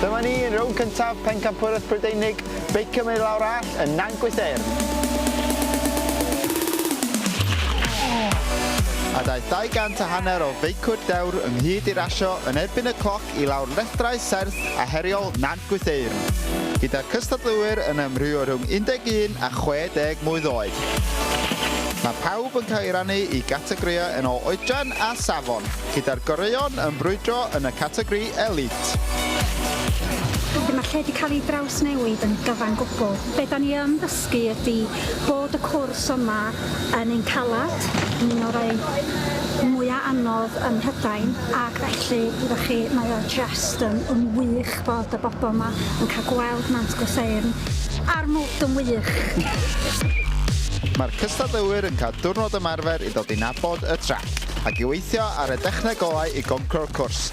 Dyma ni yn rownd cyntaf Pencampwraeth Brydeinig, beicio mynd lawr all yn Nantgwys Eirn. a daeth 200 a hanner o feicwyr dewr ynghyd i rasio yn erbyn y cloc ac i lawr lethrau serth a heriol Nant Gwytheyrn, gyda'r cystadleuwyr yn amrywio rhwng 11 a 60 mlwydd oed. Mae pawb yn cael ei rannu i gategorïau yn ôl oedran a safon, gyda'r goreuon yn brwydro yn y categori Elite. Wedyn mae'r lle 'di cael ei drawsnewid yn gyfan gwbl. Be 'dan ni yn ddysgu? dysgu ydi bod y cwrs yma yn un caled, yn un o rai mwya anodd ym Mhrydain ac felly wyddoch chi mae o jest yn yn wych bod y bobl yma yn cael gweld Nant Gwrtheyrn a'r mwd yn wych! Mae'r cystadleuwyr yn cael diwrnod ymarfer i ddod i nabod y traeth ac i weithio ar y dechneg olau i goncro'r cwrs.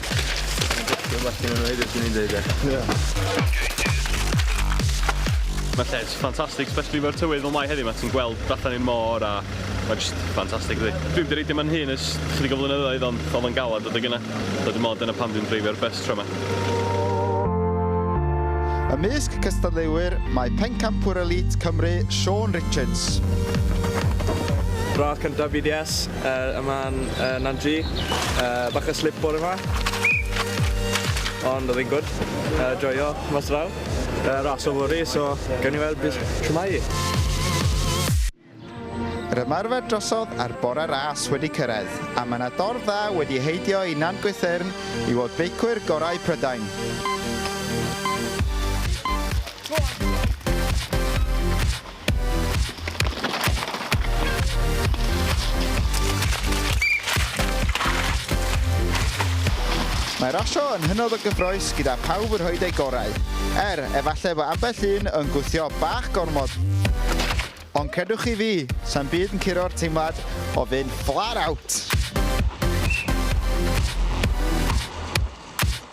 Dwi'n well na nhw hefyd, swn i'n deud, ie. Mae lle'n ffantastig, especially mewn tywydd fel mae heddiw 'ma, ti'n gweld tu allan i'r môr a mae jyst ffantastig yndi. Dwi 'di reidio 'ma fy nhun ers chydig o flynyddoedd ond oedd o'n galed adeg yna, so dwi'n meddwl dyna pam dwi'n dreifio'r bws tro 'ma. Ymysg cystadleuwyr mae Pencampwr Elît Cymru, Siôn Richards. Radd cyntaf BDS, Yy yma yn yy Nantri. Yy bach o slip bore 'ma. Ond odd e'n gwd. Yy joio mas draw. Yy ras yfory so gawn ni weld be' s- shwmai 'i. Yr ymarfer drosodd a'r bore ras wedi cyrraedd a mae 'na dorf dda wedi heidio i Nant Gwythyrn i weld beicwyr gorau Prydain. Mae rasio yn hynod o gyffroes gyda pawb yn rhoed eu gorau. Er, efallai fo ambell un yn gwthio bach gormod. Ond credwch chi fi, sa'n byd yn curo'r teimlad o fynd flat out.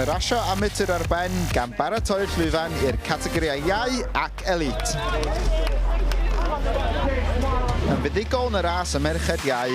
Mae rasio amatur ar ben gan baratoi'r llwyfan i'r categorïau Iau ac Elite. Yn fuddugol yn y ras y merched Iau,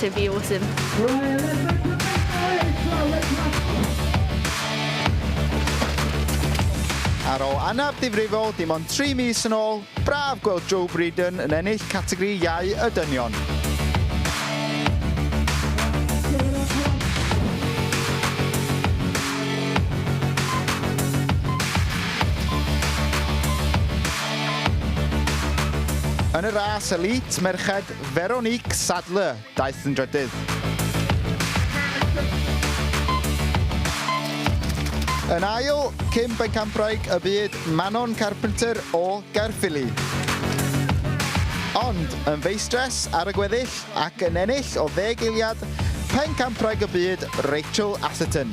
to be awesome. Ar ôl anaf ddifrifol dim ond tri mis yn ôl, braf gweld Joe Breeden yn ennill categori Iau y Dynion. Yn y ras elît merched, Veronique Sadler, daeth yn drydydd. Yn ail, cyn bencampwraig y byd Manon Carpenter o Gaerffili. Ond yn feistres ar y gweddill ac yn ennill o ddeg eiliad, pencampwraig y byd Rachel Atherton.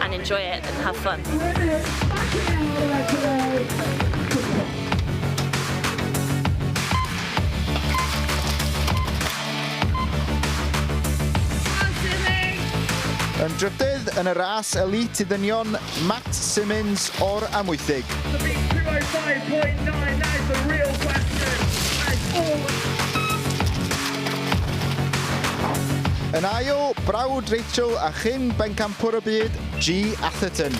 and enjoy it and have fun. Yn drydydd yn y ras elite i ddynion, Matt Simmons o'r Amwythig. Yn ail, brawd Rachel a chyn bencampwr y byd, Gee Atherton,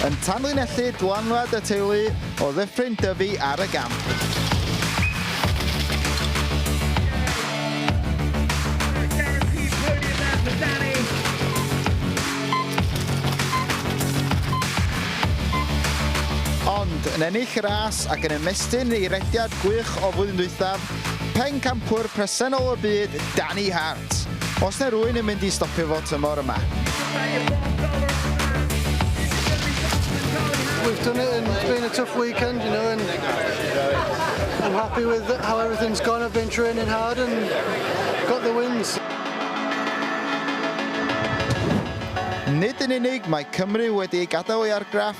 yn tanlinellu dylanwad y teulu o Ddyffryn Dyfi ar y gamp. Ond, yn ennill y ras ac yn ymestyn ei rediad gwych o flwyddyn dwythaf, Pencampwr presennol y byd, Danny Hart. Os na rwy'n yn mynd i stopio fo tymor yma. We've done it and it's been a tough weekend, you know, and I'm happy with how everything's gone. I've been training hard and got the wins. Nid yn unig mae Cymru wedi ei gadael ei argraff